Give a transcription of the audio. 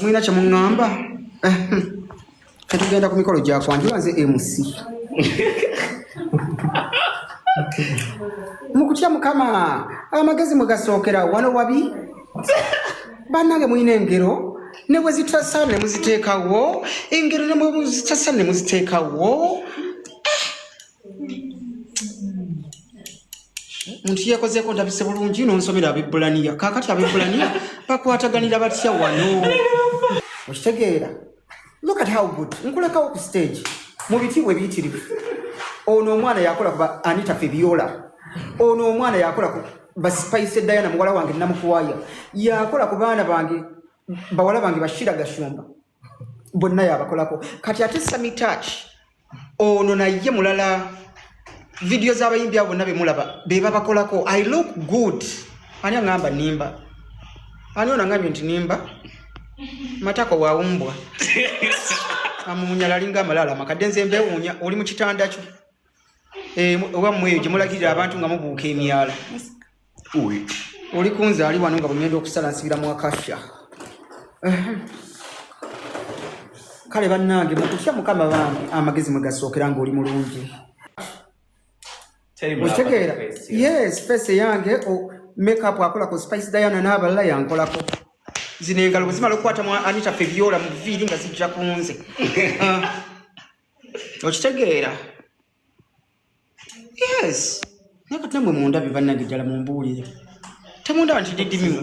mulina kye muŋŋamba ketugenda ku mikolo gya kwanjula nze mc mu kutya mukama amagezi mwe gasookera wano wabi bannange mulina engero ne bwe zitasa ne muziteekawo engero ne bwe zitasa ne muziteekawo omuntu yekozeeko ndabise bulungi nonsomera abebulaniya kakati abebulaniya bakwataganira batya wano okitegeera look at how good nkulekawo ku stage mu bitiibwa ebiyitirivu ono omwana yakola kuba anita febiola ono omwana yakola ku basipaise diana muwala wange namukwaya yakola ku baana bange bawala bange bashira gashumba bonna yabakolako kati ate sami touch ono naye mulala vidiyo z'abayimbi abo bonna bemulaba be babakolako i look good ani aŋamba nimba ani ono aŋambye nti nimba matako wawumbwa amuwunyala alinga amalaala makadde nze mbewuunya oli mu kitanda kyo eh, oba mweyo gye mulagirira abantu nga mubuuka emyala oli kunze ali wano nga bwegenda okusala nsibira mu akasha kale bannange mukutya mukama bambi amagezi mwe gasookera ng'oli mulungi okitegeera yes face eyange makeup akola ku spice diana n'abalala yankolako zino engalo bwe zimala okukwata mu anita fe byola mu viiri nga zijja kunze ah. okitegeera yes naye kati namwe mundabye bannange ddala mumbuulire temundaba nti didimimu